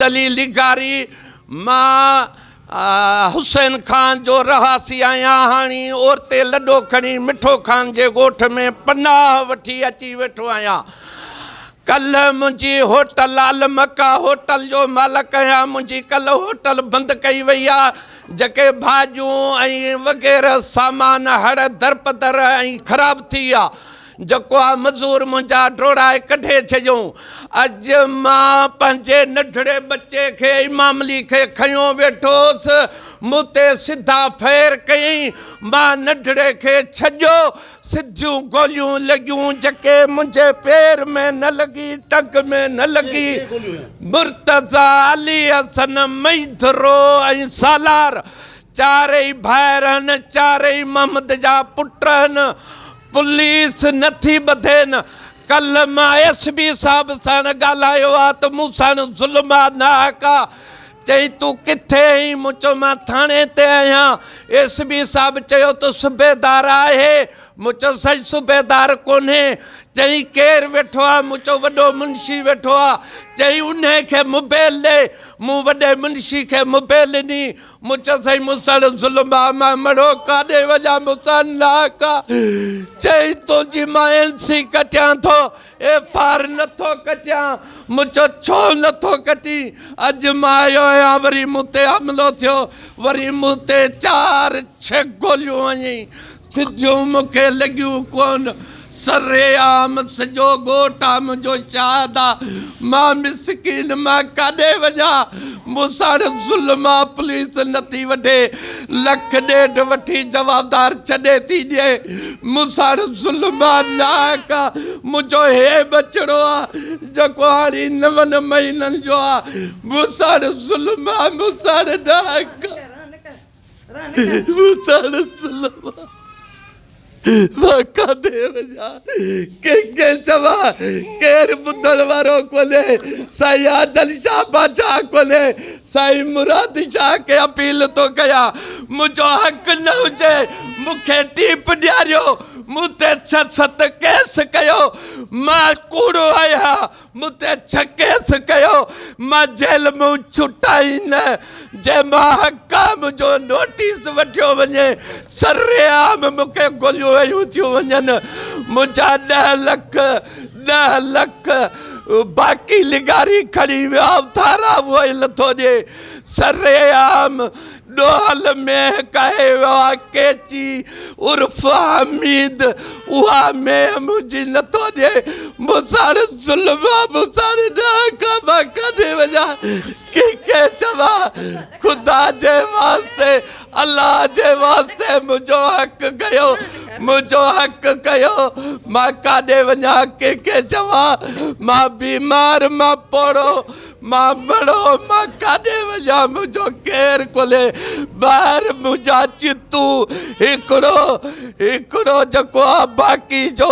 دليل ڏيکاري، مان حسين خان جو رهاسي آهيان، هاڻي اورتي لڏو کڻي مٺو خان جي ڳوٺ ۾ پناهه وٺي اچي ويٺو آهيان. ڪلهه منهنجي هوٽل المڪا هوٽل جو مالڪ آهيان، منهنجي ڪلهه هوٽل بند ڪئي وئي آهي، جيڪي ڀاڄيون ۽ وغيره سامان هڙ درپدر ۽ خراب ٿي ويا. جيڪو آ مزور منهنجا ڊوڙائي ڪڍي ڇڏيو. اڄ مان پنهنجي ننڍڙي ٻچي کي امام علي کي کنيو ويٺوس. مون تي سڌا ڦير ڪيائين. مان ننڍڙي کي ڇڄيو. سڌيون گوليون لڳيون جيڪي منهنجي پير ۾ نه لڳي ٽنگ ۾ نه لڳي. مرتضيٰ، علي حسن، مئيڌرو ۽ سالار چارئي ڀائر هن چارئي محمد جا پٽ هن. پوليس نه ٿي ٻڌي نه. ڪلهه مان ايس بي صاحب ساڻ ڳالهايو آ ته مون ساڻ ظلم آ ناحق آ. چئي تون ڪٿي ائين؟ مون چيو مان ٿاڻي تي آهيان. ايس بي صاحب چيو ته صوبيدار آهي؟ مون چيو سائين صوبيدار ڪونهي. چئي ڪير ويٺو آ؟ مون چيو وڏو منشي ويٺو آ. چئي انهي کي موبيل ڏي. مون وڏي منشي کي موبيل ڏني. مچ سئي مسڻ ظلم آ مئن مڙو ڪاڏي وڃان مسڻ ناحق آ چئي تنهنجي مان اين سي ڪٽيان ٿو ايف آر نٿو ڪٽيان مچ ڇو نٿو ڪٽين اڄ مان آيو آهيان وري مون تي حملو ٿيو وري مون تي چار ڇهه گوليون هنيائين سڌيون مون کي لڳيون ڪون، سر عام سڄو ڳوٺ آ منهنجو شاهد آ، مان مسڪين مان ڪاڏي وڃان، مون ساڻ ظلم آ پوليس نه ٿي وڍي، لک ڏيڍ وٺي جوابدار ڇڏي ٿي ڏي، مون ساڻ ظلم آ ناحق آ، منهنجو هي ٻچڙو آ جيڪو هاڻي نون مهينن جو آ، مون ساڻ ظلم آ مون ساڻ ناحق آ. مون ساڻس لولا واڪا ڏي وڃان، ڪنهن کي چوان، ڪير ٻڌڻ وارو ڪونهي، سائين آجل شاهه بادشاهه ڪونهي، سائين مراد شاهه کي اپيل ٿو ڪيان، منهنجو حق نه هجي، مون کي ٽيپ ڏياريو، مون تي ڇهه ست ڪيس ڪيو، مان ڪوڙو آهيان. مون تي ڇهه ڪيس ڪيو، مان جيل مون ڇٽائين نه، جي مان حڪام جو نوٽيس وٺيو وڃي، سرعام مون کي گوليون هنيون ٿيون وڃن، منهنجا ڏهه لک، ڏهه لک، باقي لغاري کڻي ويا، اٿارا اهو ئي نٿو ڏي، سرعام. ڏوهل مينهن ڪهي ويو آ ڪيچي عرف حميد اها مينهن منهنجي نٿو ڏئي مون ساڻ ظلم آ مون ساڻ ڏاهه کان مان ڪاڏي وڃا ڪنهن کي چوان خدا جي واسطي الله جي واسطي منهنجو حق ڪيو منهنجو حق ڪيو مان ڪاڏي وڃا ڪنهن کي چوان مان بيمار مان پوڙهو مان مڙو مان ڪاڏي وڃان منهنجو ڪير کولي ٻاهر منهنجا چتون هڪڙو هڪڙو جيڪو آ باقي جو